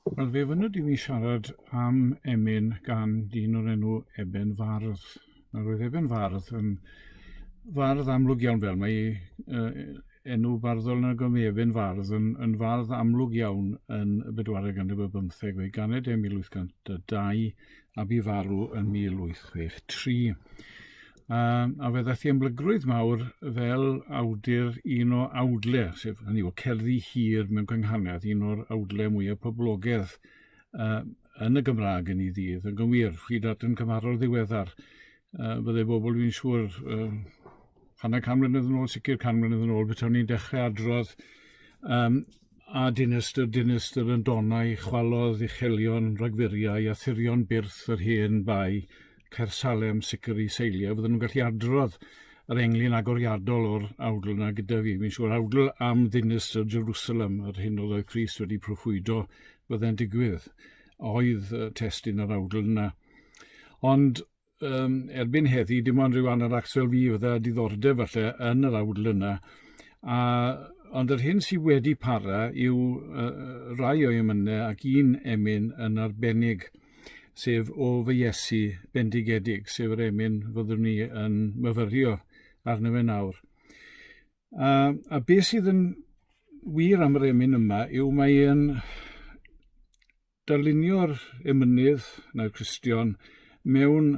Wel, fe fynwyd i ni siarad am emyn gan dyn o'r enw Eben Fardd. Nawr, roedd Eben Fardd yn fardd amlwg iawn fel mae uh, enw barddol na gymru Eben Fardd yn, yn fardd amlwg iawn yn y bedwaredd ganrif y bymtheg o'i ganed e 1802 a bu farw yn 1863. Um, a fe ddaeth i ymlygrwydd mawr fel awdur un o awdle, sef hynny o cerddi hir mewn cynghanedd, un o'r awdle mwyaf poblogedd uh, yn y Gymraeg yn ei ddydd, yn gywir, chi dat yn cymharol ddiweddar. Uh, bydde bobl fi'n siŵr uh, hanner can mlynedd yn ôl, sicr can mlynedd yn ôl, bydde ni'n dechrau adrodd um, a dinestr, dinestr yn donau, chwalodd uchelion, rhagfuriau, a thirion byrth yr hen bai, Caer Salem, sicr i seilio, fydden nhw'n gallu adrodd yr englyn agoriadol o'r awdl yna gyda fi. Fi'n siŵr awdl am ddinistr Jerusalem, yr hyn oedd oedd Christ wedi proffwydo fydde'n digwydd, oedd testyn yr awdl yna. Ond um, erbyn heddi, dim ond rhyw anaracs fel fi fydda diddordeb falle yn yr awdl yna. A, ond yr hyn sydd wedi para yw uh, rai o'i ymynau ac un emyn yn arbennig – sef o fy Iesu bendigedig, sef yr emyn fyddwn ni yn myfyrio arno fe nawr. A, a beth sydd yn wir am yr emyn yma yw mae e'n darlunio'r emynydd na'r Cristion mewn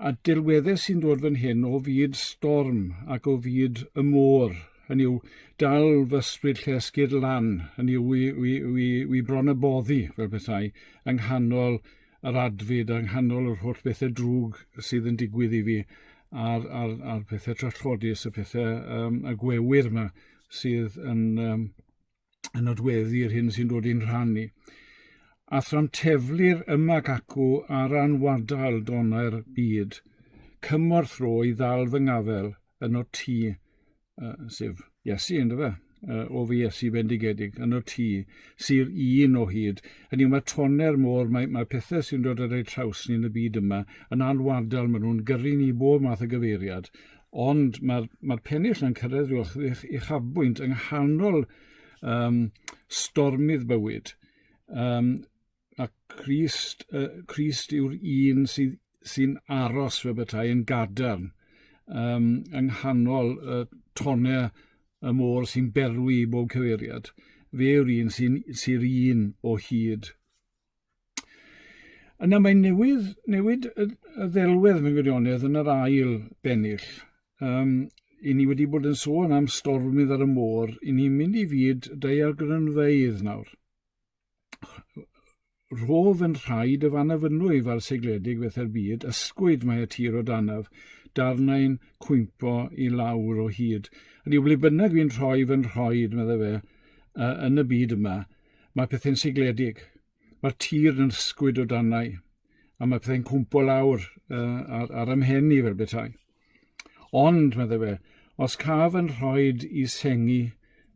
a dirweddau sy'n dod fan hyn o fyd storm ac o fyd y môr, hynny yw, dal fy ysbryd llesgyr lan, hynny yw, wi, wi, wi, wi bron y boddi, fel bethau, yng nghanol yr adfyd, yng nghanol yr holl bethau drwg sydd yn digwydd i fi, a'r, a'r, a'r pethau trallodus, y pethau um, y gwewyr yma sydd yn, um, yn nodweddu yr hyn sy'n dod i'n rhan ni. A thram teflir yma ac acw ar anwadael donau'r byd, cymorth ro i ddal fy ngafel yn o ti, uh, sef Iesu, ynddo fe? uh, o fy Iesu bendigedig, yn o ti, sy'r un o hyd. Hynny mae toner môr, mae, mae pethau sy'n dod ar ei traws ni yn y byd yma, yn alwadal, maen nhw'n gyrru ni bob math o gyfeiriad, Ond mae'r mae pennill yn cyrraedd rhyw eich uchafbwynt yng nghanol um, stormydd bywyd. Um, a Christ, uh, Christ yw'r un sy'n sy aros fe bethau yn gadarn um, yng nghanol y uh, tonau y môr sy'n berwi i bob cyfeiriad. Fe yw'r un sy'n sy un o hyd. Yna mae'n newydd, newid y, y ddelwedd mewn gwirionedd yn yr ail bennill. Um, i ni wedi bod yn sôn am stormydd ar y môr, i ni'n mynd i fyd daeargrynfeydd nawr. Rhof yn rhaid y fan afynwy fa'r segledig fetha'r byd, ysgwyd mae y tir o danaf, darnau'n cwympo i lawr o hyd. Ydy, ble bynnag fi'n rhoi fy nhroed, medda fe, uh, yn y byd yma, Mae pethau'n sigledig. Mae'r tir yn ysgwyd o danau, a mae pethau'n cwmpo lawr uh, ar, ar ymhen i fel bethau. Ond, meddai fe, os caf yn rhoi i sengi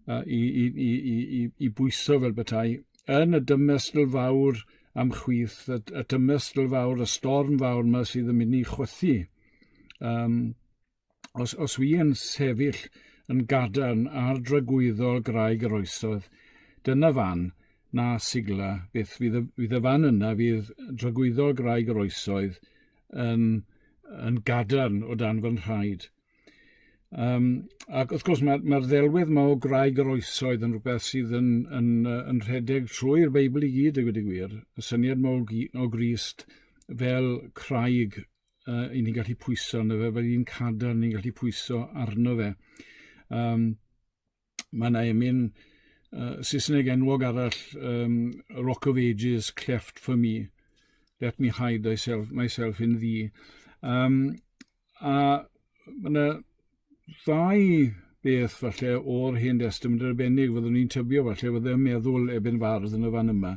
uh, i, i, i, i, i bwyso fel bethau, yn y dymestl fawr am chwyth, y, y dymestl fawr, y storm fawr yma sydd yn mynd i chwythu, um, os, os wi yn sefyll yn gadarn ar dragwyddol graig yr oesoedd, dyna fan, na sigla, beth fydd y, fydd y fan yna, fydd dragwyddol graig yr oesoedd yn, yn gadarn o dan fy nhraed. Um, ac wrth gwrs mae'r mae ddelwedd mae o graig yr oesoedd yn rhywbeth sydd yn, yn, yn, yn rhedeg trwy'r Beibl i gyd, y gwedig gwir. Y syniad mae o, o Grist fel craig uh, i ni'n gallu pwyso arno fe, fe ni'n cadar ni'n gallu pwyso arno fe. Um, mae yna emyn uh, Saesneg enwog arall, um, Rock of Ages, Cleft for me, Let me hide myself, myself in thee. Um, a mae yna ddau beth falle o'r Hen Destament yn arbennig, fyddwn ni'n tybio falle, fydde yn meddwl ebyn fardd yn y fan yma.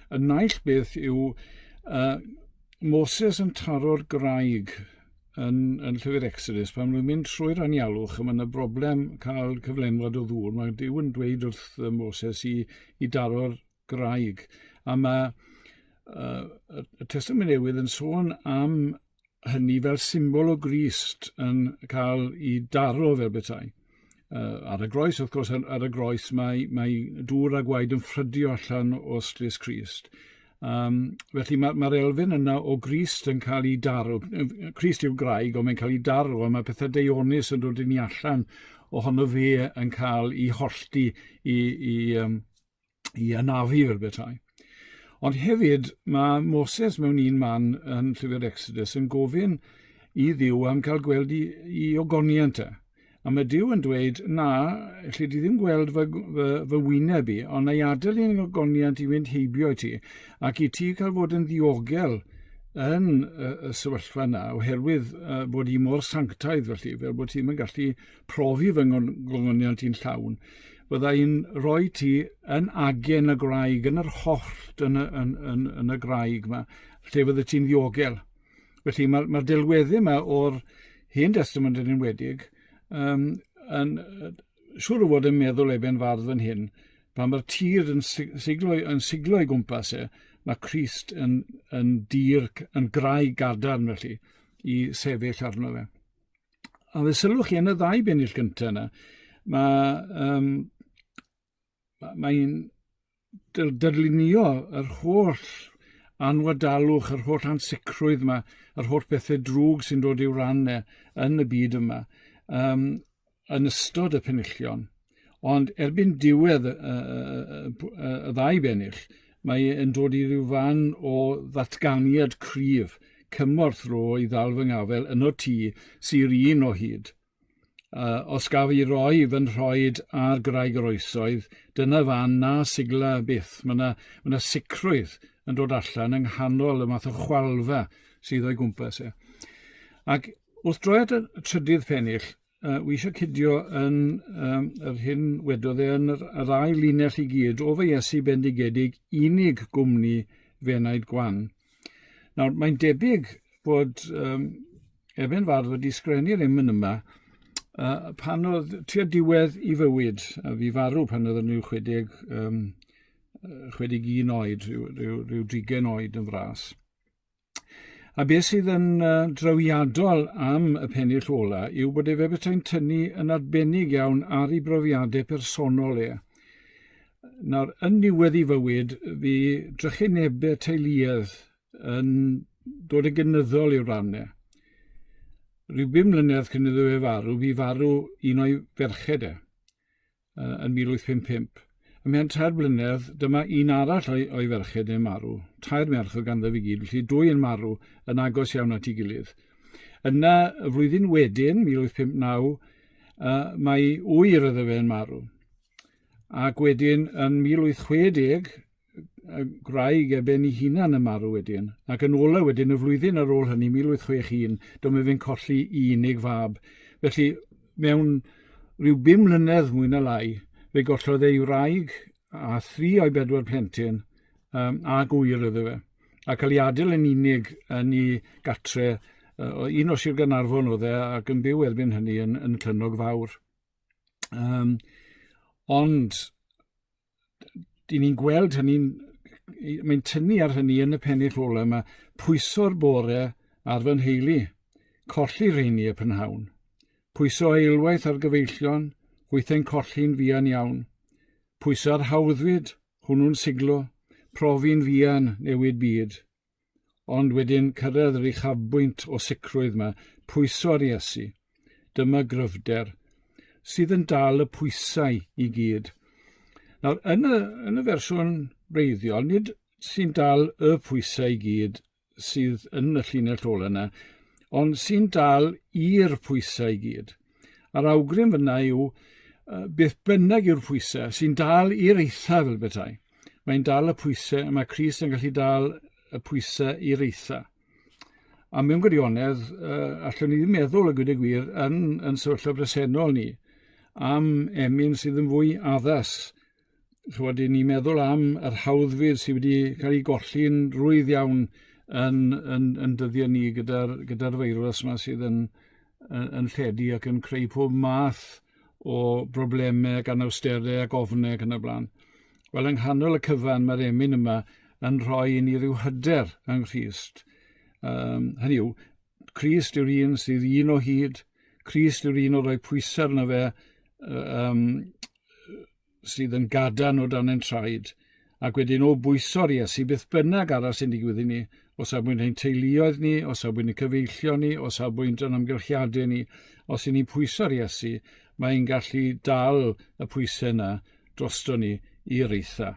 Y naill beth yw uh, Moses yn taro'r graig yn, yn llyfr Exodus, pan nhw'n mynd trwy'r anialwch, a mae yna broblem cael cyflenwad o ddŵr, mae Dyw yn dweud wrth Moses i, i daro'r graig. A mae uh, y Testament Newydd yn sôn am hynny fel symbol o Grist yn cael ei daro fel bethau. Uh, ar y groes, wrth gwrs, ar y groes mae, mae dŵr a gwaed yn ffrydio allan o strys Crist. Um, felly mae'r ma, elfen yna o Grist yn cael ei daro. Crist yw'r graig, ond mae'n cael ei daro, a mae pethau deonus yn dod i ni allan ohono fe yn cael ei hollti i, i, um, i anafu fel bethau. Ond hefyd, mae Moses mewn un man yn llyfr Exodus yn gofyn i ddiw am cael gweld i, i ogoniant e. A mae diw yn dweud, na, lle di ddim gweld fy, fy, fy wyneb i, ond na i adael i'n ogoniant i fynd heibio i ti, ac i ti cael fod yn ddiogel yn y, y sefyllfa yna, oherwydd uh, bod i mor sanctaidd felly, fel bod ti'n gallu profi fy ngogoniant i'n llawn, fydda i'n rhoi ti yn agen y graig, yn yr hollt, yn y, yn, yn, yn y graig yma, lle fydde ti'n ddiogel. Felly mae'r mae delweddu yma o'r hen testament yn enwedig, um, yn, siwr o fod yn meddwl eben fardd fan hyn, pan mae'r tir yn siglo, yn siglo i gwmpas e, mae Christ yn, yn dir, yn graig gadarn felly, i sefyll arno fe. a fe sylwch chi yn y ddau bennill gyntaf yna, mae, um, mae'n dyrlunio yr holl anwadalwch, yr holl ansicrwydd yma, yr holl bethau drwg sy'n dod i'w ran e yn y byd yma, um, yn ystod y penillion. Ond erbyn diwedd y, y, y, y ddau bennill, mae yn dod i ryw fan o ddatganiad cryf, cymorth ro i ddal fy ngafel yn o ti sy'r un o hyd. Uh, os gaf i roi fy nhroed ar graig yr oesoedd, dyna fan na sigla byth. Mae yna, ma na sicrwydd yn dod allan yng nghanol y math o chwalfa sydd o'i gwmpas e. Ac wrth droi at y trydydd pennill, Uh, wi eisiau cydio yn um, yr hyn wedodd e yn yr, yr ail linell i gyd, o fy Iesu bendigedig unig gwmni fe wnaed gwan. Nawr, mae'n debyg bod um, Eben Fardd wedi sgrennu'r emyn yma uh, pan oedd tua diwedd i fywyd, a fi farw pan oedd yn rhyw 60, um, 61 oed, rhyw, rhyw, rhyw drigen oed yn fras. A beth sydd yn uh, drawiadol am y pennill ola yw bod efe bethau'n tynnu yn arbennig iawn ar ei brofiadau personol e. Nawr, yn niwedd ei fywyd, fi drychinebau teuluedd yn dod yn gynyddol i'w rannau. Rhyw bum mlynedd cyn iddo fe farw, fi farw un o'i ferched e. uh, yn 1855. Ym mhen tair blynedd, dyma un arall o'i, o'i ferched yn marw. Tair merch o ganddo fi gyd, felly dwy yn marw yn agos iawn at ei gilydd. Yna, y flwyddyn wedyn, 1859, uh, mae ŵyr iddo fe yn marw. Ac wedyn, yn 1860, y gwraig ar ben ei hunan yn marw wedyn, ac yn ola wedyn y flwyddyn ar ôl hynny, 1861, dyma fe'n colli i unig fab. Felly, mewn rhyw bum mlynedd mwy na lai, fe gollodd ei wraig a thri o'i bedwar plentyn um, a gwyr iddo fe. A cael ei adael yn unig yn ei gatre, uh, un o Sir Ganarfon oedd e, ac yn byw erbyn hynny yn, yn Clynog Fawr. Um, ond dyn ni'n gweld hynny'n mae'n tynnu ar hynny yn y pennill ola yma, pwyso'r bore ar fy nheulu, colli rheini y prynhawn. Pwyso eilwaith ar gyfeillion, hwythau'n colli'n fuan iawn. Pwyso'r hawddfyd, hwnnw'n siglo, profi'n fuan newid byd. Ond wedyn cyrraedd yr uchafbwynt o sicrwydd mae pwyso ar Iesu. Dyma gryfder sydd yn dal y pwysau i gyd. Nawr, yn y, yn y fersiwn reiddiol, nid sy'n dal y pwysau i gyd sydd yn y llinell ola yna, ond sy'n dal i'r pwysau i gyd. A'r awgrym fyna yw, beth bynnag yw'r pwysau, sy'n dal i'r eitha fel bethau. Mae'n dal y pwysau, mae Cris yn gallu dal y pwysau i'r eitha. A mewn gwirionedd, uh, allwn ni ddim meddwl y gwyd y gwir yn, yn sefyllfa bresennol ni am emyn sydd yn fwy addas chwod, i ni meddwl am yr hawddfydd sydd wedi cael eu golli'n rwydd iawn yn, yn, yn dyddiau ni gyda'r gyda feirws yma sydd yn, yn, yn lledu ac yn creu pob math o broblemau gan awsterau ac ofnau ac yn y blaen. Wel, yng nghanol y cyfan mae'r emyn yma yn rhoi i ni rhyw hyder yng Nghyst. Um, hynny yw, Christ yw'r un sydd un o hyd, Christ yw'r un o roi pwysau arno fe, um, sydd yn gadarn o dan ein traed, ac wedyn o bwyso'r Iesu beth bynnag arall sy'n digwydd i ni, o safbwynt ein teuluoedd ni, o safbwynt y cyfeillio ni, o safbwynt yn amgylchiadau ni, os y'n ni'n pwyso'r Iesu, mae e'n gallu dal y pwysau yna drosto ni i'r eitha.